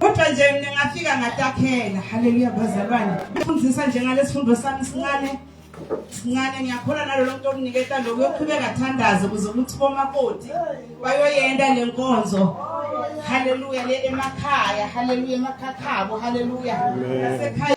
kodwa nje mina ngafika ngatakhela haleluya bazalwane ngifundisa nje ngalesifundo sami sincane sincane ngiyakhola nalolo muntu okuniketa lokhu yoqhubeka thandaze ukuze ukuthi bomakoti bayoyenda le nkonzo haleluya le emakhaya haleluya emakhakhabo haleluya nasekhaya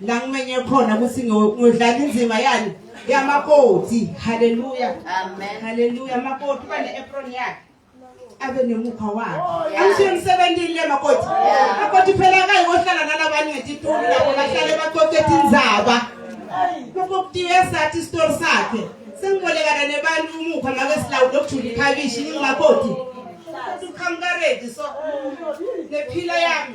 la ngimenye khona ukuthi ngodlala inzima yani yamakoti haleluya amen haleluya makoti bane apron yakhe abe nemukha wakhe oh, angishiye emsebenzini le makoti makoti phela kayi kohlala nalabanye ngetitulu lapho bahlale baqoqethe inzaba lokho kutiwe sathi isitori sakhe sengibolekana nebantu umukha ngabe silawu lokujula ikhabishi ngingamakoti uqhamuka ready so nephila yami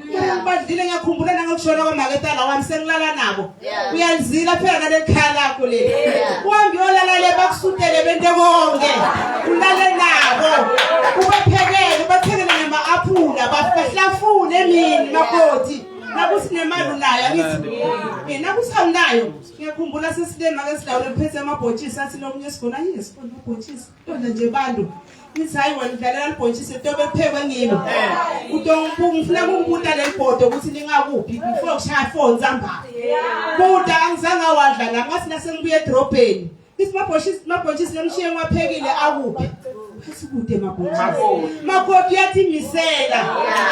ngibadlile ngiyakhumbula nangokushona kwamaketana wami sengilala nabo uyalizila phela nalekhaya lakho leli uhambe uyolala le bakusutele bento konke ulale nabo ubaphekele ubathekele nama-aphula bahlafune emini makoti nakuthi nemali unayo angithi mina nakuthi awunayo ngiyakhumbula sesilema ke sidawule kuphethe amabhotshisi athi lomunye sigona yini sigona ubhotshisi Kodwa nje bantu ithi hayi wena udlalela libhontshisi ntobe ephekwe ngilo ngifuna kungibuta leli bhodo ukuthi lingakuphi before kushaya four nsambama buta angizange awadla nami ngathi nasengibuye edrobheni ithi mabhontshisi lemshiye ngiwaphekile akuphi asikude mabhontshisi makoti uyathimisela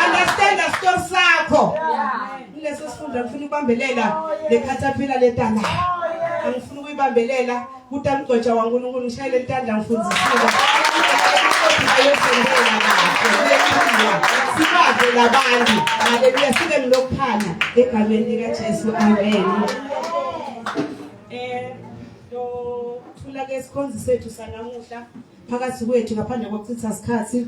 understand a story sakho ileso sifunda ngifuna ukubambelela le caterpillar letana angifuna ukuyibambelela Kuta mgcwetsha waNkulunkulu ngishayele litandla ngifundisile. Sibaze labantu. Haleluya sibe ngilokuphana egameni lika Jesu. Amen. Eh lo thula ke sikhonzi sethu sanamuhla phakathi kwethu ngaphandle kokuchitha isikhathi